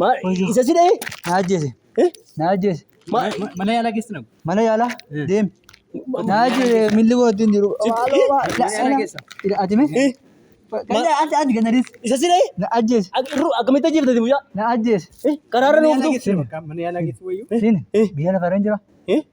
Maal isa si dha'ee? Na ajjeese. Eh? Na ajjeese. Maal? Mana yaalaa geessi nama. Mana yaalaa Eh. deemi. Ma- Na ajjeese milli koo ittiin jiru. Sitti- Maaloo eh, maal- mana yaalaa geessa. Ila ati mee? Eh? Kan ati ati kan adiis. Isa si dha'ee? Na ajjeese. Ak- irru akkamitti ajjeeftati mucaa? Na ajjeese. Eh? Karaarra na ooftu? Mana yaalaa geessi wayyuu. Siin Eh. biyya lafarra hin jira. Eh?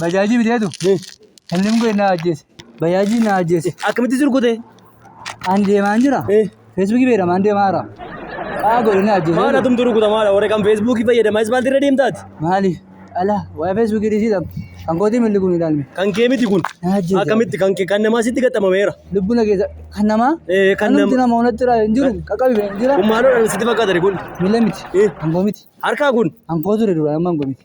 Bajaajii biteetu inni immoo na ajjeese. Bajaajii na ajjeese. Akkamitti surgute? Ani deemaan jira. Eh. Feesbuukii beekamaan deemaa jira. Qaa godhe na ajjeese. Maadha tumtu rukuta maadha warra kan feesbuukii fayyadama ispaaltii irra deemtaati. Maali? Ala waa'ee feesbuukii dhiisiidha. Kan kootii milli kun ilaalme. Kan kee miti kun. Na ajjeese. Akkamitti kan kee kan namaa sitti gaxxamameera. Lubbuu na keessa kan namaa. Eh, kan Kanumti nama- nama onatti irraa hin jiru. Qaqqabi hin jira. Kun maaloodhaan sitti fakkaatani kun. Miila miti. Eh. Hangoo miti. Harkaa kun. Hangoo ture dura amma hangoo miti.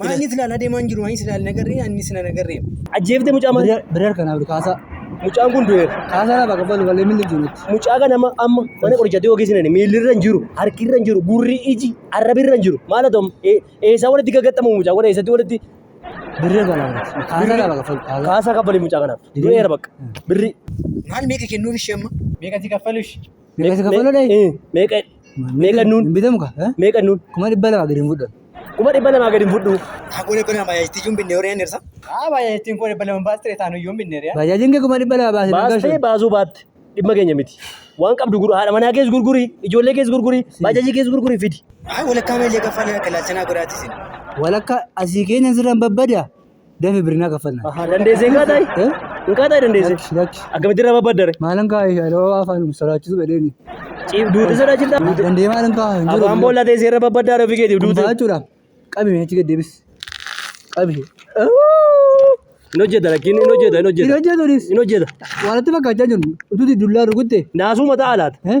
Maanni silaan adeemaa hin jiru, maanni silaan hin agarree, anni silaan hin agarree. Ajjeeftee mucaa maal? Birar kanaaf kaasaa. Mucaan kun du'eera. Kaasaa lafa qabalu malee milli hin jirutti. Mucaa kana amma amma mana qorichaatti yoo geessinani miilli irra hin jiru, harki irra hin jiru, gurri iji arrabi irra hin jiru. Maal haa ta'u? Ee- Eessaa walitti gaggaxxamu mucaa kun eessatti walitti Birar kanaaf kaasaa lafa qabalu kaasaa. kaasaa kaffali mucaa kanaaf. Du'eera bakka. Birri. Maal meeqa kennuuf ishee amma? Meeqa si kaffalush? Meeqa si kaffaluu dhayi? Eh, Meeqa meeqa nuun? Hin bitamu ka? eh? Meeqa nuun? Kuma dhibba lama gadi hin fudhan. Kuma dhibba lamaa gadi hin fudhu. Aku ni pernah bayar itu jumpa orang yang nirsa. Ah, bayar itu kau dapat lama bahas cerita nu jumpa nir ya. Baajaajin kee kuma dhibba lama baasee Baastee gargaarsu. baasuu baatte dhimma keenya miti. Waan qabdu guru haadha manaa kees gurguri, ijoollee kees gurguri, baajaajii kees gurguri fidi. Ah, boleh kami lihat kafan yang kelas cina gratis ini. Walakka asii keenya sirraan babbada. Dame birina kafana. Aha, dandeesse hin qaatayi? Eh? Hin qaatayi dandeesse? Lakki, lakki. Akkamitti irra babbaddare? Malan ka ya lo afan sarachu bedeni. Ciif duute sodaachifta? Dande malan ka hin jiru. Afaan boolla teessee irra babbaddare ofii keetiif duute. Duuta jechuudha. Qabi mee achi gad deebis. Qabi. Hin hojjeta lakkiin hin hojjeta hin Hin hojjeta. hojjetunis Hin hojjeta. walitti fakkaachaa jiru. Ututi dullaa rukutte. Naasuu mataa alaata. Eh?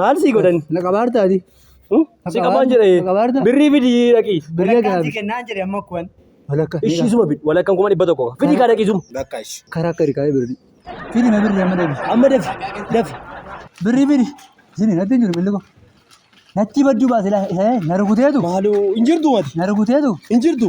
Maal sii godhani? Na qabaarta ati. Hmm? Si qabaan jedha ee. Qabaarta. Birrii fidi dhaqii. Birrii Walakkaan si gaabi. kennaan jedhe amma kuwan. Walakka. Ishii suma fidi. Walakkaan kuma dhibba tokko. Fidi kaa dhaqii suma. Karaa akka hirkaa'ee birrii. Fidi na birrii amma deebi. Amma dafi. Dafi. Birrii fidi. Isin natti hin jiru billi koo. Natti badduu baase laa isa na rukuteetu. Maaloo hin jirtu mati. Na rukuteetu. Hin jirtu.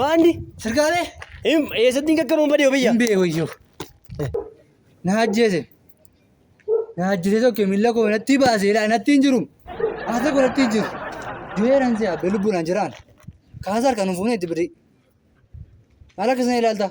Maanni Sirkaalee eessatti hin qaqqabamu badee biyya. hin beeku iyyuu. Na ajjeese. Na ajjeese tokko miila koo natti baase ilaa natti hin jiru. Haasa koo natti hin jiru. Du'eeraan si abbe lubbuudhaan jiraan. Kaasa harkaan hin fuune itti birrii. Maal akkasina ilaalta?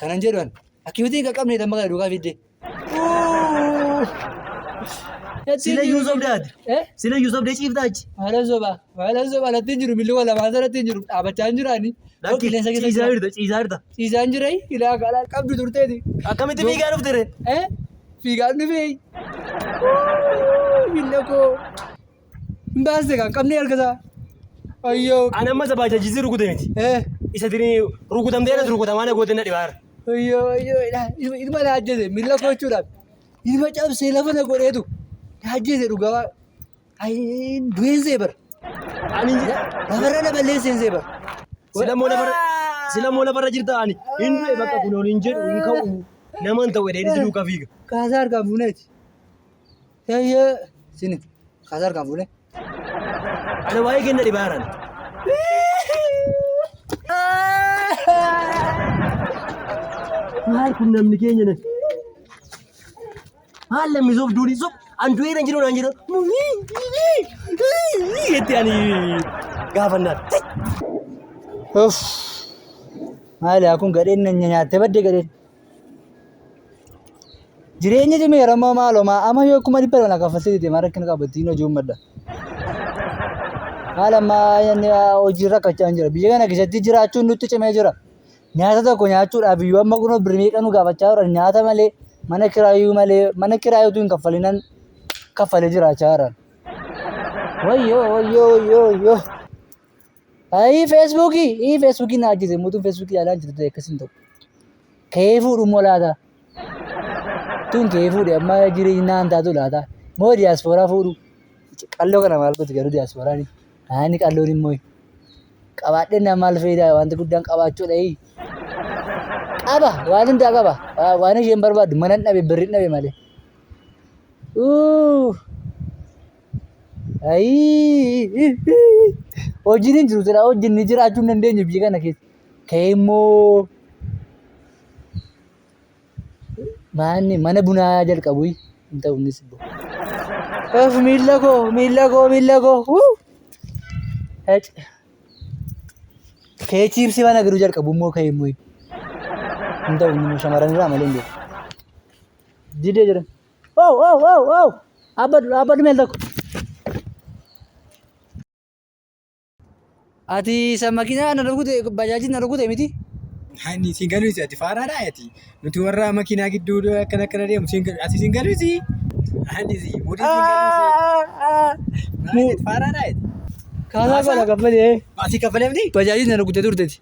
Kanan jedhu an akkibitii hin qaqqabne tan maqaa duukaa fidde. Sila iyyuu sobde ati. Eh? Sila iyyuu sobde ciifta achi. Maalan sobaa maalan sobaa natti hin jiru milluwa lamaan sanatti hin jiru dhaabachaa hin jiraani. Lakki Qilleensa keessa ciisaa jira. jirta ciisaa jirta. Ciisaa hin jirai ilaa gaalaa qabdu turteeti. Akkamitti fiigaa dhufte ree? Eh? Fiigaan dhufee. Milla koo. Hin baasne kan qabnee erga isaa. Ayyoo. Ani amma isa baajaajisii rukute miti. Eh. Isa tini rukutamtee irratti rukutamaa na goote na dhibaara. Ayyoo ayyoo ilaa ilma ilma na ajjeese miila koo jechuudhaan ilma cabsee lafa na godheetu na ajjeese dhugaa waa. Ayi du'een see bara. Ani Lafarra na balleesseen see bara. silamoo lafarra silamoo lafarra jirta ani hin du'e bakka kun ol hin jedhu hin ka'u nama hin ta'u edee duuka fiiga. Kaasaa harkaan fuuneeti. Yayye sini kasar kan fule. Ana waa'ee kenna dhibaaran. Maal kun namni keenya na. Maal namni soof duudhi soof an du'ee na jiru naan jedha. Jetti ani gaafannaa. Uff. Maali kun gadheen na nyaattee badde gadheen. Jireenya cimee rammoo maaloo maa amma yoo kuma dhibba lama kaffaltee deete maa rakkina qaba ittiin hojii uummadha. Maal amma inni hojii rakkachaa jira biyya kana keessatti jiraachuun nutti cimee jira. Nyaata tokko nyaachuudhaaf iyyuu amma kunoo birrii meeqa nu gaafachaa jiran nyaata malee mana kiraayuu malee mana kiraayuu utuu hin kaffalinan kaffalee jiraachaa jiran. Wayyoo wayyoo wayyoo wayyoo. Ayii feesbuukii ii feesbuukii na ajjeese mootuun feesbuukii ilaalaa hin jirtu akkas hin ta'u. Ka'ee fuudhu immoo laata. Tun ka'ee fuudhe amma jireenya naan taatu laata. Moo diyaaspooraa fuudhu. Qalloo kana maal gooti garuu diyaaspooraan naanni qalloon immoo qabaadhee naa maal fayidaa wanti guddaan qabaachuudha ii. Qaba waan hundaa qaba Waa- waan isheen barbaaddu mana hin dhabe birri hin dhabe malee. Uuu. Ayii! Hojiin hin jiru silaa hojiin ni jiraachuu hin dandeenye biyya kana keessa. Ka'ee immoo maanni mana bunaa jalqabu hin ta'u innis immoo. Of miila koo miila koo miila koo. Wuu! Ec. Ka'ee chiipsii mana garuu jalqabu immoo ka'ee immoo hin ta'u inni immoo shamarran irraa malee hin jiru. Didee jedhan. Wow, wow, wow, wow. Abba dura, abba dhumeen tokko. Ati isa makiinaa na rukute, bajaajii na rukute miti? Ani isin galuusi ati faaraadha ati. Nuti warra makiinaa gidduu akkana akkana deemu isin galu ati isin galuusi. Ani isin muudii isin galuusi. Faaraadha ati. Kaasaa Kaasaa? gola kaffalee. Ati kaffalee miti? Bajaajii na rukute turteti.